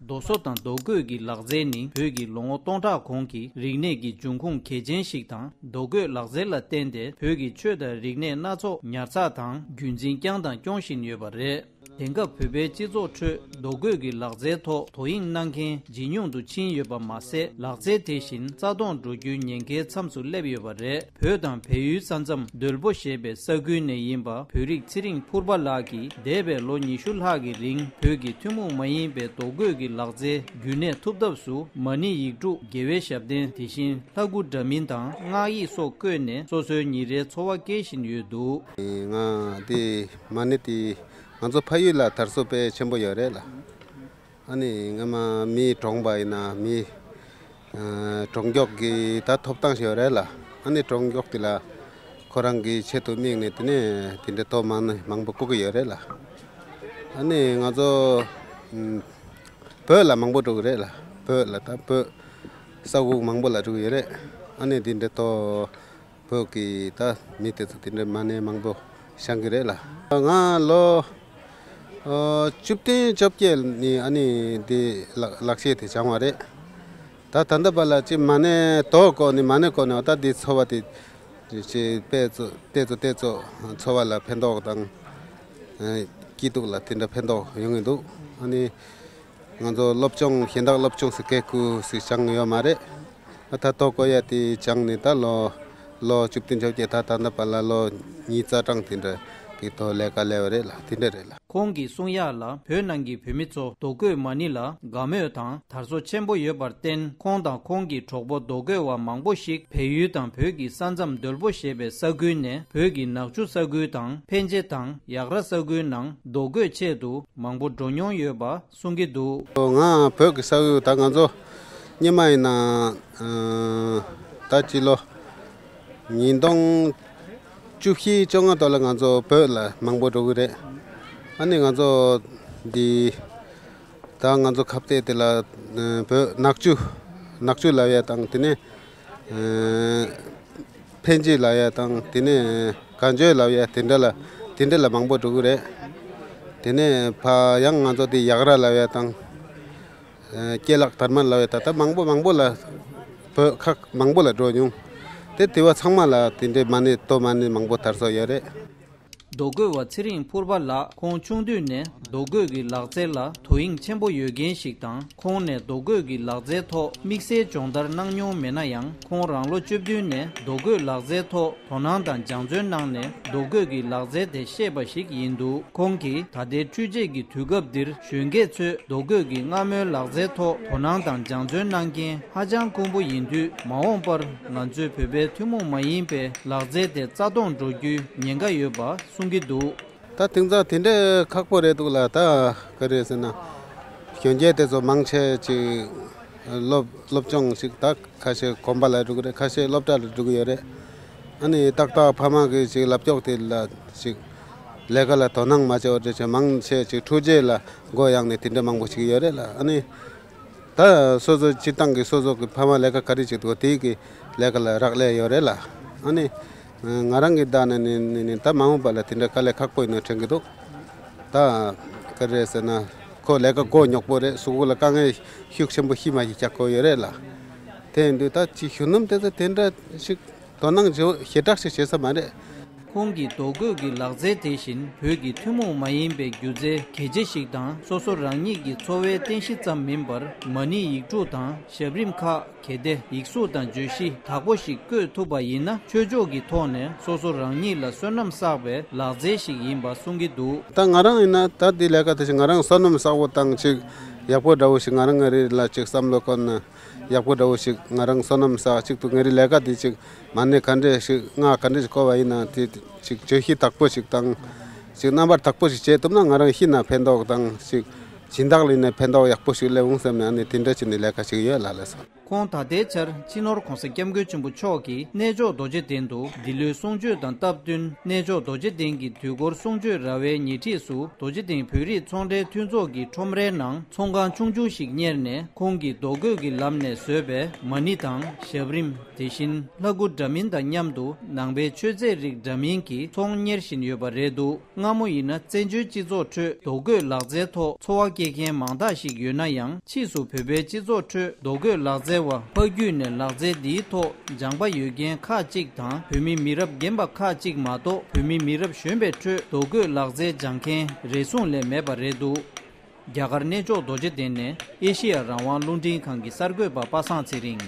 རྡོ་བཟོ་དང་རྡོ་བརྐོས་ཀྱི་ལག་རྩལ་ནི་བོད་ཀྱི་ལོ་ངོ་སྟོང་ཕྲག་གོང་གི་རིག་གནས་ཀྱི་འབྱུང་ཁུངས་གལ་ཆེན་ཞིག་དང་རྡོ་བརྐོས་ལག་རྩལ་ལ་བརྟེན་ཏེ་བོད་ཀྱི་ཆོས་དང་རིག་གནས་སྣ་ཚོགས་ཉར་ཚགས་དང་རྒྱུན་འཛིན་བསྐྱངས་དང་སྐྱོང་བཞིན་ཡོད་པ་རེད། དེང་སྐབས་བོད་པའི་སྤྱི་ཚོགས་ཁྲོད་རྡོ་བརྐོས་ཀྱི་ལག་རྩལ་ཐོག་དོ་དབྱིངས་གནང་མཁན་ཇེ་ཉུང་དུ་ཕྱིན་ཡོད་པ་མ་ཟད་ལག་རྩལ་དེ་བཞིན་རྩ་སྟོང་འགྲོ་རྒྱུའི་ཉེན་ཁའི་མཚམས་སུ་སླེབས་ཡོད་པ་རེད། བོད་དང་བལ་ཡུལ་ས་མཚམས་རྡོལ་པོ་ཞེས་པའི་ས་ཁུལ་ནས་ཡིན་པ་བོད་རིགས་ཚེ་རིང་ཕུར་པ་ལགས་ཀྱིས་འདས་པའི་ལོ་ཉི་ཤུ་ལྷག་གི་རིང་བོད་ཀྱི་ཐུན་མོང་མ་ཡིན་པའི་རྡོ་བརྐོས་ཀྱི་ལག་རྩལ་རྒྱུན་གནས་ཐུབ་ཐབས་སུ་མ་ཎི་ཡིག་དྲུག་དགེ་བའི་ཞབས་བརྟན་དེ་བཞིན་ལྷ་སྐུ་འདྲ་མིན་དང་སྔགས་ཡིག་སོགས་བརྐོས་ནས་སོ་སོའི་ཉིན་རེའི་འཚོ་བ་སྐྱེལ་བཞིན་ཡོད་འདུག། ང་དེ་མ་ཎི་དེ་ང་ཚོ་ཕ་ཡུལ་ལ་དར་སོ་དཔེ་ཆེན་པོ་ཡོད་རེད་ལ། ཨ་ནི་སྔོན་མ་མིའི་གྲོངས་པ་ཡིན་ན་མིའི་གྲོངས་འགྱོག་གི་ད་ཐོབ་ཐང་ཞེས་པ་རེད་ལ་ཨ་ནི་གྲོངས་འགྱོག་དེ་ལ་ཁོ་རང་གི་ཆེད་དུ་དམིགས་ནས་དེ་ནས་དེ་འདྲའི་ཐོབ་མང་ནི་མང་པོ་བཀོག་གི་ཡོད་རེད་ལ། ཨ་ནི་ང་ཚོ་བོད་ལ་མང་པོ་འགྲོ་གི་རེད་ལ་བོད་ལ་ད་བོད་ས་དབུགས་མང་པོ་ལ་འགྲོ་གི་ཡོད་རེད་ཨ་ནི་དེ་འདྲའི་ཐོབ། བོད་ཀྱི་ད་མི་དེ་ཚོ་དེ་འདྲའི་མ་ནས་མང་པོ་བྱང་གི་རེད་ལ། ང་ལོ་བཅུ་བདུན་བཅོ་བརྒྱད་ནས་ཨ་ནི་འདི་ལག་ཤེས་དེ་བྱང་བ་རེད། ད་ད་ལྟ་བར་ལ་ཅི་མ་ནས་དོ་ཀོ་ནི་མ་ནས་ཀོ་ནི་ཨོ་ད་འདི་འཚོ་བ་དེ་ཅི་པེ་ཙོ་ཏེ་ཙོ་ཏེ་ཙོ་འཚོ་བ་ལ་ཕན་ཐོགས་དང་སྐྱིད་སྡུག་ལ་དེ་འདྲ་ཕན་ཐོགས་ཡོང་གི་འདུག་ཨ་ནི། ང་ཚོ་སློབ་སྦྱོང་གཞན་དག་སློབ་སྦྱོང་སུ་བཀས་བཀོད་སུ་སྦྱངས་ཡོད་མ་རེད། ད་ཐོག་བཀོད་ཡ་དེ་སྦྱངས་ནས་ད་ལོ་ལོ་བཅུ་བདུན་བཅོ་བརྒྱད་ད་ད་ལྟ་བར་ལ་ལོ་གཉིས་རྩ་གྲངས་དེ་འདྲ་གི་ཐོག་ལས་ཀ་ལས་བ་རེད་ལ་དེ་འདྲ་རེད་ལ། ཁོང་གིས་གསུངས་ཡག་ལ་བོད་ནང་གི་བོད་མི་ཚོ་རྡོ་བརྐོས་མ་ཎི་ལ་དགའ་མོས་དང་དར་སོ་ཆེན་པོ་ཡོད་པར་བརྟེན་ཁོང་དང་ཁོང་གི་གྲོགས་པོ་རྡོ་བརྐོས་བ་མང་པོ་ཞིག་བལ་ཡུལ་དང་བོད་ཀྱི་ས་མཚམས་རྡོལ་པོ་ཞེས་པའི་ས་ཁུལ་ནས་བོད་ཀྱི་ནག་ཆུ་ས་ཁུལ་དང་ཕན་ཆེ་དང་ཡག་ར་ས་ཁུལ་ནང་རྡོ་བརྐོས་ཆེད་དུ་མང་པོ་འགྲོ་མྱོང་ཡོད་པ་གསུང་གི་འདུག། ང་བོད་ཀྱི་ས་ཨུལ་ད་ང་ཚོ་རྙིང་མ་ཡིན་ནའང། ད་སྤྱི་ལོ་ཉིས་སྟོང་བཅུ་བཞི་བཅོ་ལྔ་ཐོག་ལ་ང་ཚོ་བོད་ལ་མང་པོ་འགྲོ་གི་རེད། ཨ་ནི་ང་ཚོ་འདི་ད་ང་ཚོ་ཁ་བརྡས་དེ་ལ་བོད་ནག་ཆུ་ནག་ཆུ་ལ་ཡོད་དང་དེ་ནས། ཕན་ཆད་ལབ་ཡ་དང་དེ་ནས་གངས་ཆོས་ལབ་ཡ་དེ་འདྲ་ལ་དེ་འདྲ་ལ་མང་པོ་འགྲོ་གི་རེད། དེ་ནས་བ་ཡང་ང་ཚོ་དེ་ཡག་ར་ལབ་ཡ་དང། སྐྱེས་ལག་དར་མ་ལབ་ཡ་ད་ལྟ་མང་པོ་མང་པོ་ལ་བོད་ཁག་མང་པོ་ལ་འགྲོ་མྱོང། དེ་དེ་བ་ཚང་མ་ལ་དེ་འདྲའི་མ་ཎི་སྟོད་མ་ཎི་མང་པོ་དར་སོ་ཡོད་རེད། རྡོ་བརྐོས་བ་ཚེ་རིང་ཕུར་པ་ལགས་ཁོང་ཆུང་དུས་ནས་རྡོ་བརྐོས་ཀྱི་ལག་རྩལ་ལ་དོ་དབྱིངས་ཆེན་པོ་ཡོད་མཁན་ཞིག་དང་ཁོང་ནས་རྡོ་བརྐོས་ཀྱི་ལག་རྩལ་ཐོག་དམིགས་བསལ་སྦྱོང་བརྡར་གནང་མྱོང་མེད་ན་ཡང་ཁོང་རང་ལོ་བཅུ་བདུན་ནས་རྡོ་བརྐོས་ལག་རྩལ་ཐོག་དོ་སྣང་དང་སྦྱང་བརྩོན་གནང་ནས་རྡོ་བརྐོས་ཀྱི་ལག་རྩལ་དེ་ཤེས་པ་ཞིག་ཡིན་འདུག་ཁོང་གིས་ད་ལྟའི་འཕྲུལ་ཆས་ཀྱི་དུས་སྐབས་འདིར་གཞོན་སྐྱེས་ཚོས་རྡོ་བརྐོས་ཀྱི་མངར་མོའི་ལག་རྩལ་ཐོག་དོ་སྣང་དང་སྦྱང་བརྩོན་གནང་མཁན་ཧ་ཅང་དཀོན་པོ་ཡིན་དུས་མ་འོངས་པར་ང་ཚོའི་བོད་པའི་ཐུན་མོང་མ་ཡིན་པའི་ལག་རྩལ་དེ་རྩ་སྟོང་འགྲོ་རྒྱུའི་ཉེན་ཁ་ཡོད་པ་གསུང་གི་འདུག། ད་དེང་སང་དེ་འདྲའི་ཁག་པོ་རེད་འདུག་ལ་ད་ག་རེད་ཟེར་ན། གཞོན་སྐྱེས་དེ་ཚོ་མང་ཆེ་ཅིག་སློབ་སློབ་སྦྱོང་ཞིག་ད་ཁ་ཤས་གོམ་པ་ལ་འགྲོ་གི་རེད་ཁ་ཤས་སློབ་གྲྭ་ལ་འགྲོ་གི་ཡོད་རེད། ཨ་ནི་ཏག་ཏག་ཕ་མ་གིས་ཞིག་ལབ་ཀྱོག་དེ་ལ་ཞིག་ལས་ཀ་ལ་དོ་སྣང་མ་བྱས་བ་འདྲ་བྱས་མང་ཆེ་ཅིག་ཕྲུག་རྗེས་ལ་མགོ་གཡག་ནས་དེ་འདྲ་མང་པོ་ཞིག་ཡོད་རེད་ལ་ཨ་ནི་ད་སོ་སོ་སྤྱིར་བཏང་གི་སོ་སོ་གི་ཕ་མ་ལས་ཀ་ག་རེ་བྱེད་འདུག་དེའི་ལས་ཀ་ལ་རག་ལས་ཡོད་རེད་ལ། ཨ་ནི། ང་རང་གི་བདག་ནི་ནི་ནི་ནི་ད་མ་འོངས་པ་ལ་དེ་འདྲའི་དཀའ་ལས་ཁག་པོ་ཡིན་ནོ་དྲན་གི་འདུག་ད། ག་རེ་ཟེར་ན། ཁོ་ལས་ཀ་མགོ་ཉོག་པོ་རེད་སུ་གུ་ལ་དཀའ་ངལ་ཤུགས་ཆེན་པོ་ཤི་མ་ཤི་ཆ་བཀོད་ཡོད་རེད་ལ། དེ་ཡིན་དུས་ད་ཅི་ཞུ་ནམ་དེ་ཚོ་དེ་འདྲ་ཞིག། དོ་སྣང་བྱེད་འོས་ཞེ་དྲག་ཞིག་བྱེད་ས་མ་རེད། ཁོང་གིས་རྡོ་བརྐོས་ཀྱི་ལག་རྩལ་དེ་བཞིན་བོད་ཀྱི་ཐུན་མོང་མ་ཡིན་པའི་སྒྱུ་རྩལ་གལ་ཆེ་ཞིག་དང་སོ་སོ་རང་ཉིད་ཀྱི་འཚོ་བའི་རྟེན་གཞི་ཙམ་མིན་པར་མ་ཎི་ཡིག་དྲུག་དང་ཞབས་རིམ་ཁག་གལ་ཏེ་ཡིག་གཟུགས་དང་བརྗོད་གཞི་དག་པོ་ཞིག་བཀོད་ཐུབ་པ་ཡིན་ན་ཆོས་ཕྱོགས་ཀྱི་ཐོག་ནས་སོ་སོ་རང་ཉིད་ལ་བསོད་ནམས་བསགས་པའི་ལག་རྩལ་ཞིག་ཡིན་པ་གསུང་གི་འདུག། ད་ང་རང་ཡིན་ན་ད་དེའི་ལས་ཀ་དེ་བཞིན་ང་རང་བསོད་ནམས་བསགས་པོ་དང་ཅིག་ཡག་པོ་འདྲ་བོ་ཞིག་ང་རང་ངར་རེད་ལ་ཅིག་བསམ་བློ་བཀོད་ན། ཡག་པོ་འདྲ་བོ་ཞིག་ང་རང་བསོད་ནམས་ས་གཅིག་ཏུ་ངའི་རི་ལས་ཀ་འདི་ཅིག་མ་གནས་ག་འདྲས་ཤིག་སྔགས་ག་འདྲས་ཤིག་བཀོལ་བ་ཡིན་ན་དེ་ཅིག་བརྗོད་གཞི་དག་པོ་ཞིག་དང། ཅིག་རྣམ་པར་དག་པོ་ཞིག་བྱེད་ཐུབ་ན་ང་རང་ཤི་ན་ཕན་ཐོགས་དང་ཅིག་སྦྱིན་བདག་ལེན་ནས་ཕན་ཐོགས་ཡག་པོ་ཞིག་སླེབས་འོང་བསམ་ནས་ནི་དེ་འདྲ་ཅིག་ནི་ལས་ཀ་ཞིག་ཡོད་ལ་ལས་སོ། ཁོང་ད་ལྟའི་ཆར་སྤྱི་ནོར་གོང་ས་སྐྱབས་མགོན་ཆེན་པོ་མཆོག་གིས་གནས་མཆོག་རྡོ་རྗེ་གདན་དུ་འདི་ལོའི་གསུང་ཆོས་དང་སྟབས་བསྟུན་གནས་མཆོག་རྡོ་རྗེ་གདན་གྱི་དུས་འཁོར་གསུང་ཆོས་ར་བའི་ཉེ་འཁྲིས་སུ་རྡོ་རྗེ་གདན་བོད་རིགས་ཚོང་འབྲེལ་མཐུན་ཚོགས་ཀྱི་ཁྲོམ་རའི་ནང། ཚོང་ཁང་ཆུང་ཆུང་ཞིག་གཉེར་ནས་ཁོང་གིས་རྡོ་བརྐོས་ཀྱི་ལམ་ནས་བཟོས་པའི་མ་ཎི་དང་ཞབས་རིམ་དེ་བཞིན་ལྷ་སྐུ་འདྲ་མིན་དང་མཉམ་དུ་ནང་པའི་མཆོད་རྫས་རིགས་འདྲ་མིན་གྱི་ཚོང་གཉེར་བཞིན་ཡོད་པ་རེད་འདུག་སྔ་མོ་ཡིན་ན་བཙན་བྱོལ་སྤྱི་ཚོགས་ཁྲོད་རྡོ་བརྐོས་ལག་རྩལ་ཐོག་འཚོ་བ་སྐྱེལ་མཁན་མང་དག་ཞིག་ཡོད་ན་ཡང་ཕྱིས་སུ་བོད་པའི་སྤྱི་ཚོགས་ཁྲོད་རྡོ་བརྐོས་ལག་རྩལ་བ་ཕ་རྒྱུད་ནས་ལག་རྩལ་འདིའི་ཐོག་སྦྱངས་པ་ཡོད་མཁན་ཁག་གཅིག་དང་བོད་མི་མི་རབས་རྒན་པ་ཁག་གཅིག་མ་གཏོགས་བོད་མི་མི་རབས་གཞོན་པའི་ཁྲོད་རྡོ་བརྐོས་ལག་རྩལ་སྦྱངས་མཁན་རེ་ཟུང་ལས་མེད་པ་རེད་འདུག། རྒྱ་གར་གནས་མཆོག་རྡོ་རྗེ་གདན་ནས་ཨེ་ཤེ་ཡ་རང་དབང་རླུང་འཕྲིན་ཁང་གི་གསར་འགོད་པ་པ་སངས་ཚེ་རིང།